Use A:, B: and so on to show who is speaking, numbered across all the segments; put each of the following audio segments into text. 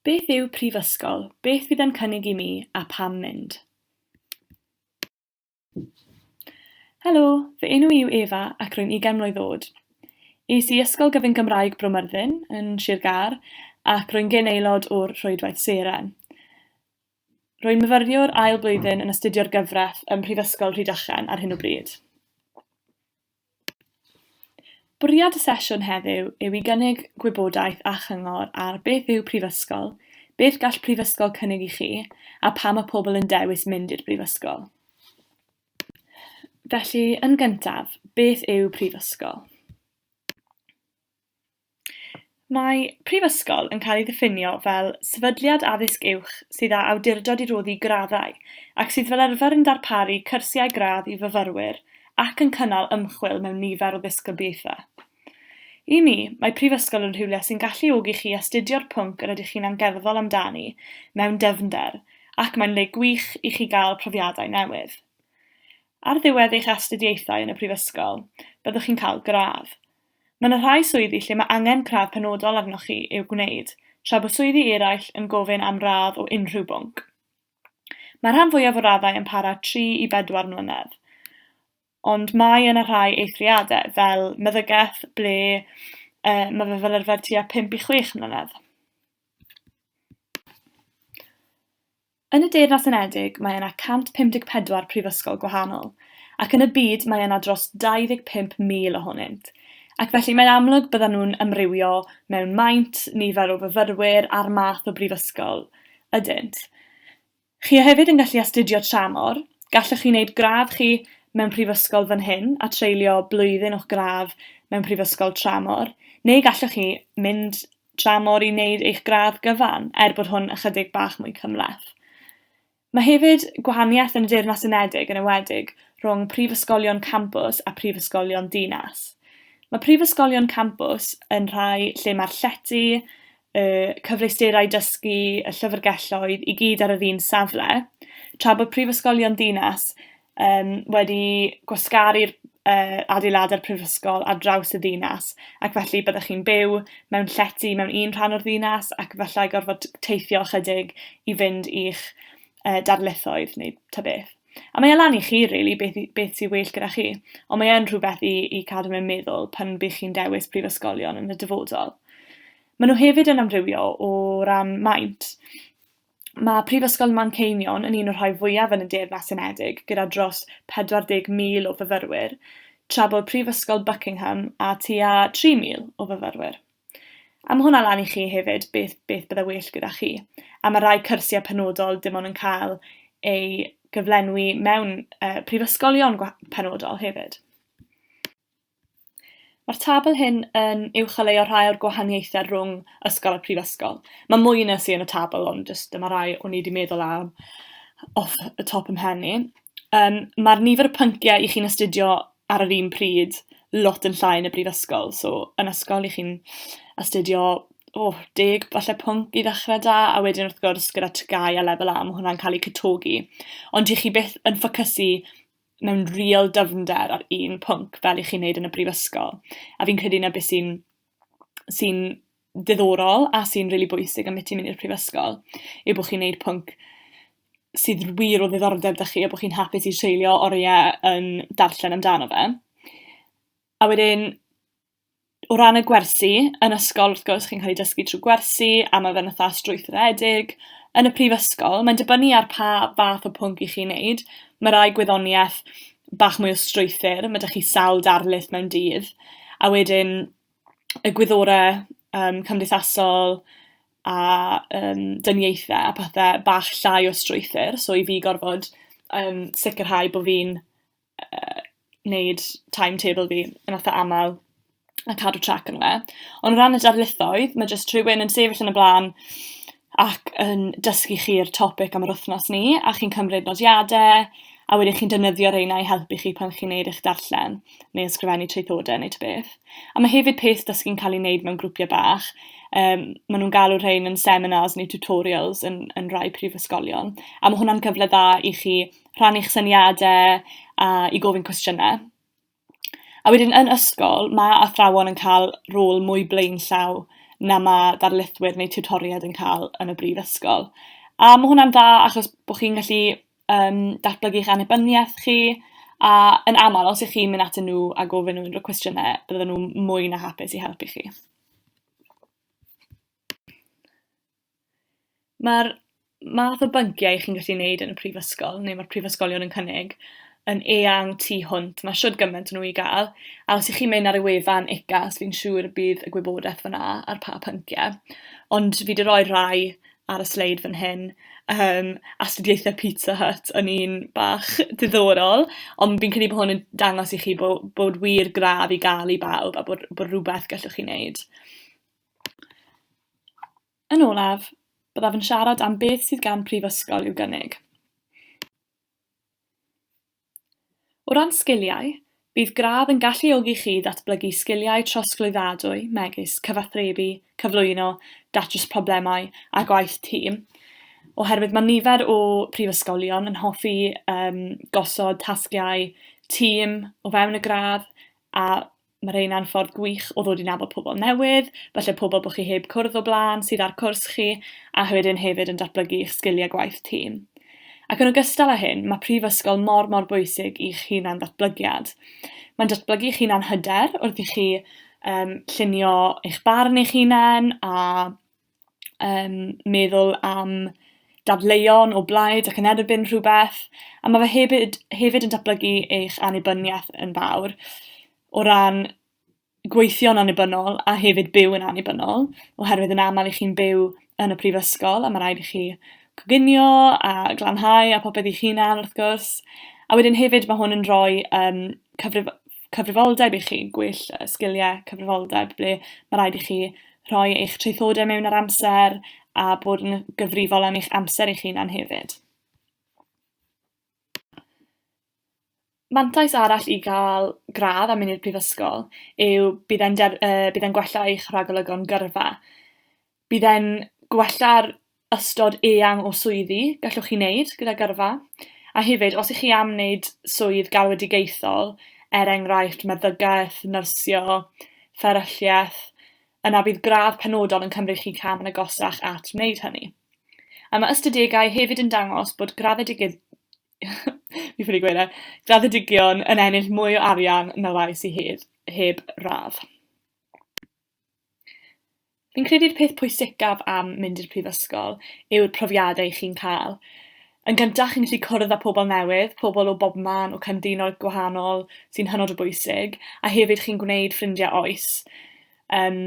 A: Beth yw prifysgol, beth fydd e'n cynnig i mi a pam mynd? Helo, fy enw i yw Efa ac rwy'n 20 mlwydd oed. Es i Ysgol Gyfun Gymraeg Bro Myrddin yn Sir Gâr ac rwy'n gyn aelod o'r Rhwydwaith Seren. Rwy'n myfyriwr ail blwyddyn yn astudio'r gyfraith ym Mhrifysgol Rhydychen ar hyn o bryd. Bwriad y sesiwn heddiw yw i gynnig gwybodaeth a chyngor ar beth yw prifysgol, beth gall prifysgol cynnig i chi, a pam mae pobl yn dewis mynd i'r brifysgol. Felly, yn gyntaf, beth yw prifysgol? Mae prifysgol yn cael ei ddiffinio fel sefydliad addysg uwch sydd â awdurdod i roddi graddau, ac sydd fel arfer yn darparu cyrsiau gradd i fyfyrwyr ac yn cynnal ymchwil mewn nifer o ddisgyblaethau. I mi, mae prifysgol yn rhywle sy'n galluogi chi astudio'r pwnc yr ydych chi'n angerddol amdani mewn dyfnder, ac mae'n le gwych i chi gael profiadau newydd. Ar ddiwedd eich astudiaethau yn y prifysgol, byddwch chi'n cael gradd. Mae yna rhai swyddi lle mae angen cradd penodol arnoch chi i'w gwneud, tra bod swyddi eraill yn gofyn am radd o unrhyw bwnc. Mae'r rhan fwyaf o raddau yn para tri i bedwar mlynedd, ond mae yna rhai eithriadau, fel meddygaeth, ble yy ma' fe fel arfer tua pump i chwech mlynedd. Yn y Deyrnas Unedig mae yna 154 prifysgol gwahanol, ac yn y byd mae yna dros 25,000 ohonynt, ac felly mae'n amlwg byddan nhw'n amrywio mewn maint, nifer o fyfyrwyr a'r math o brifysgol ydynt. Chi a hefyd yn gallu astudio tramor, gallwch chi wneud gradd chi mewn prifysgol fan hyn a treulio blwyddyn o'ch gradd mewn prifysgol tramor, neu gallwch chi mynd dramor i wneud eich gradd gyfan, er bod hwn ychydig bach mwy cymhleth. Mae hefyd gwahaniaeth yn y Deyrnas Unedig yn ewedig rhwng prifysgolion campus a phrifysgolion dinas. Mae prifysgolion campus yn rhai lle mae'r llety, y cyfleusterau dysgu, y llyfrgelloedd i gyd ar yr un safle, tra bod prifysgolion dinas yym wedi gwasgaru'r yy adeilad a'r prifysgol ar draws y ddinas, ac felly byddech chi'n byw mewn llety mewn un rhan o'r ddinas, ac efallai gorfod t- teithio ychydig i fynd i'ch yy darlithoedd neu ta beth. A mae e lan i chi rili beth i beth sy well gyda chi, ond mae yn rhywbeth i i cadw mewn meddwl pan by' chi'n dewis prifysgolion yn y dyfodol. Maen nhw hefyd yn amrywio o ran maint. Ma' Prifysgol Manceinion yn un o'r rhai fwyaf yn y Deyrnas Unedig, gyda dros 40,000 o fyfyrwyr, tra bod Prifysgol Buckingham â tua 3,000 o fyfyrwyr. A ma' hwnna lan i chi hefyd, beth beth bydde well gyda chi. A ma' rai cyrsiau penodol dim ond yn cael eu gyflenwi mewn yy prifysgolion gwa- penodol hefyd. Mae'r tabl hyn yn uwcholeuo rhai o'r gwahaniaethau rhwng ysgol a prifysgol. Mae mwy na sy yn y tabl ond jyst dyma rai o'n i 'di meddwl am off y top 'y mhen i. Yym ma'r nifer y pynciau 'ych chi'n astudio ar yr un pryd lot yn llai yn y brifysgol, so yn ysgol 'ych chi'n astudio o deg falle pwnc i ddechre 'da a wedyn wrth gwrs gyda TGAU a Lefel A ma' hwnna'n ca'l 'u cytogi. Ond 'ych chi byth yn ffocysu mewn real dyfnder ar un pwnc fel 'ych chi'n neud yn y brifysgol, a fi'n credu 'na be' sy'n sy'n diddorol a sy'n rili bwysig ambyti myn' i'r prifysgol yw bo' chi'n neud pwnc sydd r- wir o ddiddordeb 'da chi a bo' chi'n hapus i treulio orie yn darllen amdano fe. A wedyn o ran y gwersi, yn ysgol wrth gwrs chi'n cael ei dysgu trwy gwersi a ma' fe'n fatha strwythuredig. Yn y prifysgol mae'n dibynnu ar pa fath o pwnc 'ych chi'n neud. Ma' rai gwyddonieth bach mwy o strwythur, ma' 'da chi sawl darlith mewn dydd, a wedyn y gwyddore yym cymdeithasol a yym dyniaethe a pethe bach llai o strwythur, so i fi gorfod yym sicirhau bo' fi'n yy neud timetable fi yn itha amal, a cadw trac ano fe. Ond o ran y darlithoedd, ma' jyst rhywun yn sefyll yn y bla'n ac yn dysgu chi'r topic am yr wythnos 'ny, a chi'n cymryd nodiade, a wedyn chi'n defnyddio reina i helpu chi pan chi'n neud eich darllen, neu ysgrifennu traethodau neu ta beth. A ma' hefyd peth dysgu'n ca'l 'i neud mewn grwpie bach, yym ma' nw'n galw rhein yn seminars neu tutorials yn yn rai prifysgolion, a ma' hwnna'n cyfle dda i chi rhannu'ch syniadau, a i gofyn cwestiynau. A wedyn yn ysgol, ma' athrawon yn ca'l rôl mwy blaenllaw na ma' darlithwyr neu tiwtoriaid yn ca'l yn y brifysgol, a ma' hwnna'n dda achos bo' chi'n gallu, yym, datblygu'ch annibyniaeth chi, a yn amal os 'ych chi'n mynd atyn nhw a gofyn nhw unryw cwestiyne, bydden nhw mwy na hapus i helpu chi. Mae'r math o bynciau chi'n gallu neud yn y prifysgol, neu mae'r prifysgolion yn cynnig, yn eang tu hwnt, mae shwd gymaint o nhw i gael, a os 'y chi'n mynd ar y wefan UCAS fi'n siŵr y bydd y gwybodaeth fan'na ar pa pyncie, ond fi 'di roi'r rhai ar y sleid fan hyn, yym astudiaethau Pizza Hut yn un bach diddorol, ond fi'n credu bo' hwn yn dangos i chi bo' bod wir gradd i ga'l i bawb, a bod bod rwbeth gallwch chi neud. Yn olaf, byddaf yn siarad am beth sydd gan prifysgol i'w gynnig. O ran sgiliau, bydd gradd yn galluogi chi ddatblygu sgiliau trosglwyddadwy megis cyfathrebu, cyflwyno, datrys problemau a gwaith tîm, oherwydd mae nifer o prifysgolion yn hoffi um, gosod tasgiau tîm o fewn y gradd a Mae rheina'n ffordd gwych o ddod i nabod pobl newydd, falle pobl bod chi heb cwrdd o blaen sydd ar cwrs chi, a wedyn hefyd yn datblygu eich sgiliau gwaith tîm. Ac yn ogystal â hyn, mae prifysgol mor mor bwysig i'ch hunan ddatblygiad. Mae'n datblygu eich hunan hyder wrth i chi um, llunio eich barn eich hunan a yym meddwl am dadleuon o blaid ac yn erbyn rhwbeth, a ma' fe hebyd hefyd yn datblygu eich annibyniaeth yn fawr o ran gweithio'n annibynnol a hefyd byw yn annibynnol, oherwydd yn amal 'ych chi'n byw yn y prifysgol a ma' raid i chi coginio a glanhau a popeth eich hunan wrth gwrs. A wedyn hefyd ma' hwn yn rhoi yym cyfrif- cyfrifoldeb i chi, gwell sgiliau cyfrifoldeb ble ma' raid i chi rhoi eich traethodau mewn ar amser a bod yn gyfrifol am eich amser eich hunan hefyd. Mantais arall i gael gradd a mynd i'r prifysgol yw bydd e'n, uh, bydd e'n gwella eich rhagolygon gyrfa. Bydd e'n gwella'r ystod eang o swyddi gallwch chi wneud gyda gyrfa, a hefyd, os 'ych chi am wneud swydd galwedigaethol, er enghraifft meddygaeth, nyrsio, fferylliaeth, yna bydd gradd penodol yn cymryd chi cam yn agosach at wneud hynny. A mae ystadegau hefyd yn dangos bod graddedigydd- fi ffili gweud e, graddedigion yn ennill mwy o arian na rai sy hedd- heb radd. Fi'n credu'r peth pwysicaf am mynd i'r prifysgol yw'r profiadau chi'n cael. Yn gyntaf, chi'n gallu cwrdd â pobl newydd, pobl o bobman, o cynefinoedd gwahanol, sy'n hynod o bwysig, a hefyd chi'n gwneud ffrindiau oes. Yym,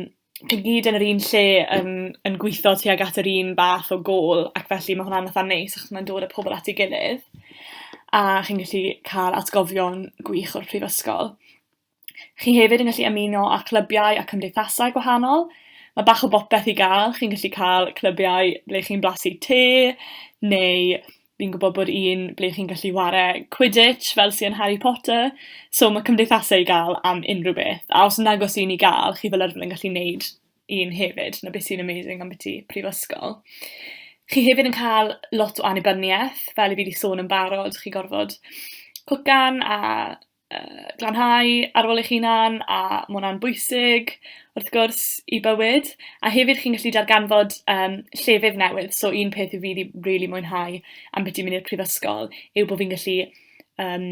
A: chi gyd yn yr un lle yn yn gwitho tuag at yr un fath o gôl, ac felly ma' hwnna'n itha neis achos ma'n dod â pobl at 'i gilydd, a chi'n gallu ca'l atgofion gwych o'r prifysgol. Chi hefyd yn gallu ymuno â chlybiau a cymdeithasau gwahanol. Mae bach o bopeth i gael, chi'n gallu cael clybiau ble chi'n blasu te, neu fi'n gwybod bod un ble chi'n gallu ware quidditch fel sy yn Harry Potter. So ma' cymdeithase i ga'l am unrhyw beth. A os nag o's un i ga'l chi fel arfer yn gallu neud un hefyd 'na be' sy'n amazing ambyti prifysgol. Chi hefyd yn ca'l lot o annibyniaeth fel 'yf fi 'di sôn yn barod chi gorfod cwcan a yy glanhau ar ôl eich hunan, a ma' hwnna'n bwysig wrth gwrs i bywyd, a hefyd chi'n gallu darganfod yym llefydd newydd, so un peth fi 'di rili mwynhau ambiti mynd i'r prifysgol yw bo' fi'n gallu yym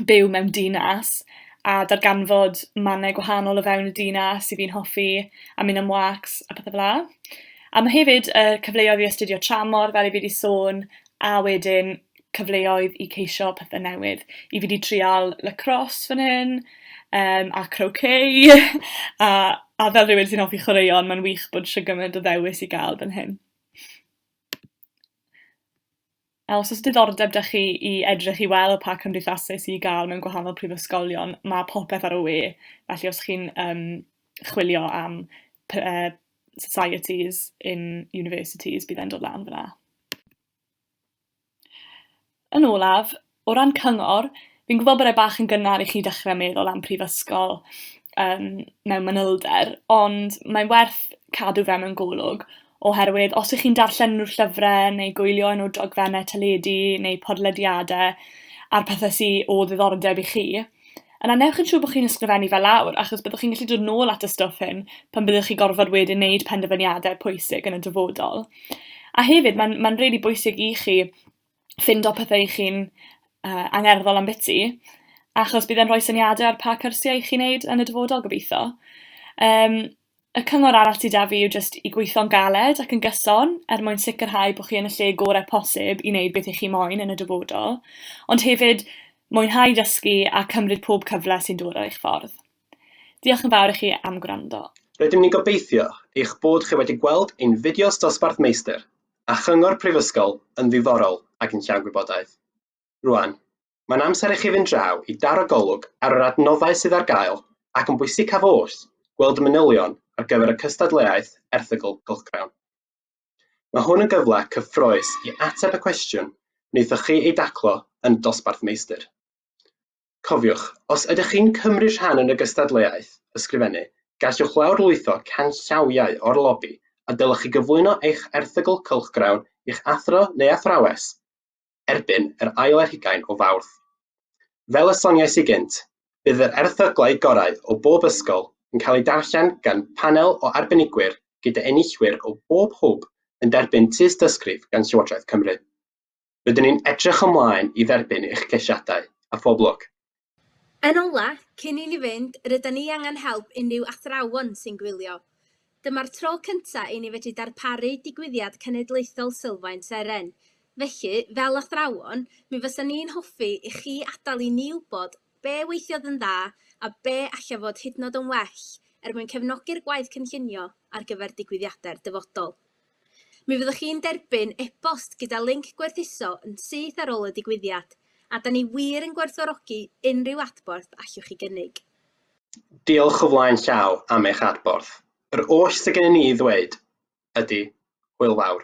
A: byw mewn dinas a darganfod mannau gwahanol o fewn y dinas 'yf fi'n hoffi, a mynd am wâcs a pethe fela. A ma' hefyd yy cyfleodd i astudio tramor fel 'yf fi 'di sôn, a wedyn cyfleoedd i ceisio pethe newydd. I fi 'di trial lacrosse fan hyn yym a croquet a a fel rywun sy'n offi chwaraeon ma'n wych bod shwd gyment o ddewis i ga'l fan hyn. A os o's diddordeb 'da chi i edrych i weld pa cymdeithase sy i ga'l mewn gwahanol prifysgolion ma' popeth ar y we, felly os chi'n yym chwilio am py- yy societies in universities bydd e'n dod lan fan 'na. Yn olaf, o ran cyngor, fi'n gwybod bod e bach yn gynnar i chi dechrau meddwl am prifysgol yym mewn manylder, ond mae'n werth cadw fe mewn golwg, oherwydd os 'ych chi'n darllen unrhyw llyfrau neu gwylio un o dogfennau teledu neu podlediadau a'r pethe sy o ddiddordeb i chi, Yna newch yn siŵr bo' chi'n ysgrifennu fe lawr, achos byddwch chi'n gallu dod nôl at y stwff hyn pan fyddwch chi gorfod wedyn neud penderfyniadau pwysig yn y dyfodol. A hefyd ma'n ma'n rili bwysig i chi ffindo pethe 'ych chi'n yy angerddol am biti, achos bydd e'n rhoi syniade ar pa cyrsiau i chi neud yn y dyfodol gobitho. Yym. Y cyngor arall sy 'da fi yw jyst i gweitho'n galed ac yn gyson er mwyn sicrhau bo' chi yn y lle gore' posib i neud beth 'ych chi moyn yn y dyfodol, ond hefyd mwynhau dysgu a cymryd pob cyfle sy'n dod ar eich ffordd. Diolch yn fawr i chi am gwrando. Rydym ni'n gobeithio
B: eich bod chi wedi gweld ein fideos Dosbarth Meistr a Chyngor Prifysgol yn ddiddorol ac yn llawn gwybodaeth. Rwan, Mae'n amser i chi fynd draw i daro golwg ar yr adnoddau sydd ar gael ac yn bwysicaf oll, gweld y manylion ar gyfer y cystadleuaeth erthygl cylchgrawn. Mae hwn yn gyfle cyffrous i ateb y cwestiwn wnaethoch chi ei daclo yn y dosbarth meistr. Cofiwch, os ydych chi'n cymryd rhan yn y gystadleuaeth ysgrifennu, gallwch lawrlwytho canllawiau o'r lobi a dylech chi gyflwyno eich erthygl cylchgrawn i'ch athro neu athrawes erbyn yr ail ar hugain o Fawrth. Fel y soniais i gynt, bydd yr erthyglau gorau o bob ysgol yn cael eu darllen gan panel o arbenigwyr gyda enillwyr o bob hwb yn derbyn tystysgrif gan Llywodraeth Cymru. Rydyn ni'n edrych ymlaen i dderbyn eich ceisiadau, a phob lwc! Yn ola,
C: cyn i ni fynd, rydan ni angen help unrhyw athrawon sy'n gwylio. Dyma'r tro cynta i ni fedru darparu digwyddiad cenedlaethol Sylfaen Seren. Felly, fel athrawon, mi fysa ni'n hoffi i chi adal i ni wbod be weithiodd yn dda a be alla fod hydnod yn well er mwyn cefnogi'r gwaith cynllunio ar gyfer digwyddiade'r dyfodol. Mi fyddwch chi'n derbyn e-bost gyda linc gwerthuso yn syth ar ôl y digwyddiad, a da ni wir yn gwerthfawrogi unrhyw adborth allwch chi gynnig. Diolch
B: o flaen llaw am eich adborth. Yr oll sydd gennym ni i ddweud ydy, hwyl fawr.